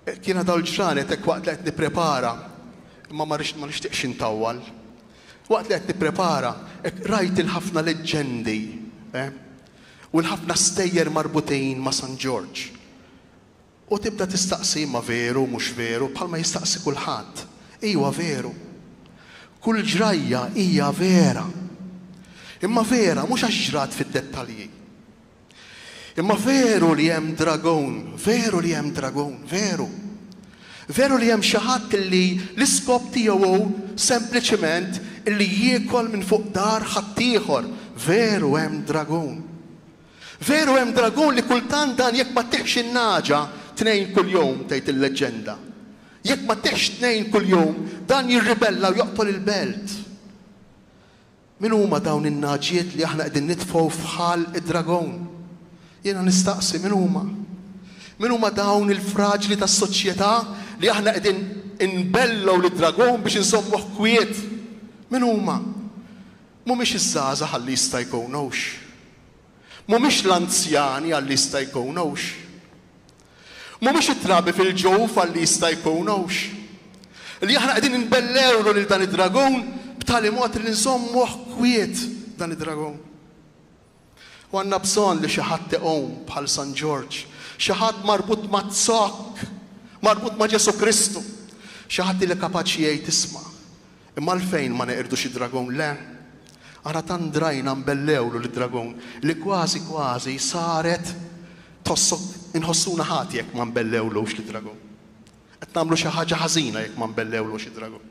Jiena dawn il-ġranet hekk waqt li qed nipprepara, imma ma rridx ma nixtieqx intawwal. Waqt li qed nipprepara, hekk rajt il-ħafna leġġendi, eh, u l-ħafna stejjer marbutin ma' San Ġorġ. U tibda tistaqsi imma veru, mhux veru, bħalma jistaqsi kulħadd. Ejwa veru. Kull ġrajja hija vera. Imma vera mhux għax ġrat fid-dettalji. Imma veru li hemm dragun, veru li hemm dragun, veru. Veru li hemm xi ħadd li l-iskop tiegħu hu sempliċiment li jiekol minn fuq dar ħaddieħor, veru hemm dragun. Veru hemm dragun li kultant dan jekk ma ttiħx in-nagħġa tnejn kuljum tgħid il-leġġenda. Jekk ma ttiħx tnejn kuljum dan jirribella u joqtol il-belt. Min huma dawn in-nagħġiet li aħna qegħdin nitfgħu f'ħal id-dragon? Jiena nistaqsi, min huma? Min huma dawn il-fraġli tas-soċjetà li aħna qegħdin inbellgħu lid-dragon biex inżommuh kwiet? Min huma? Mhumiex iż-żgħażagħ għalli jista' jkun hux. Mhumiex l-anzjani għalli jista' jkun hux. Mhumiex it-trabi fil-ġuf li jista' jkun hux. Li aħna qegħdin inbellewlu lil dan id-dragun b'tali mod li nżommuh kwiet dan id-dragun. U għandna bżonn li xi ħadd iqum bħal San Ġorġ, xi ħadd marbut maz-zokk, marbut ma' Ġesù Kristu, xi ħadd li kapaċi jgħid isma', Imma għalfejn ma neqirdux id-dragun, le? Ara tant drajna nbellgħulu lid-dragun li kważi kważi saret tħossok inħossuna ħati jekk ma nbellgħulux lid-dragun. Qed nagħmlu xi ħaġa ħażina jekk ma nbellgħulux id-dragun.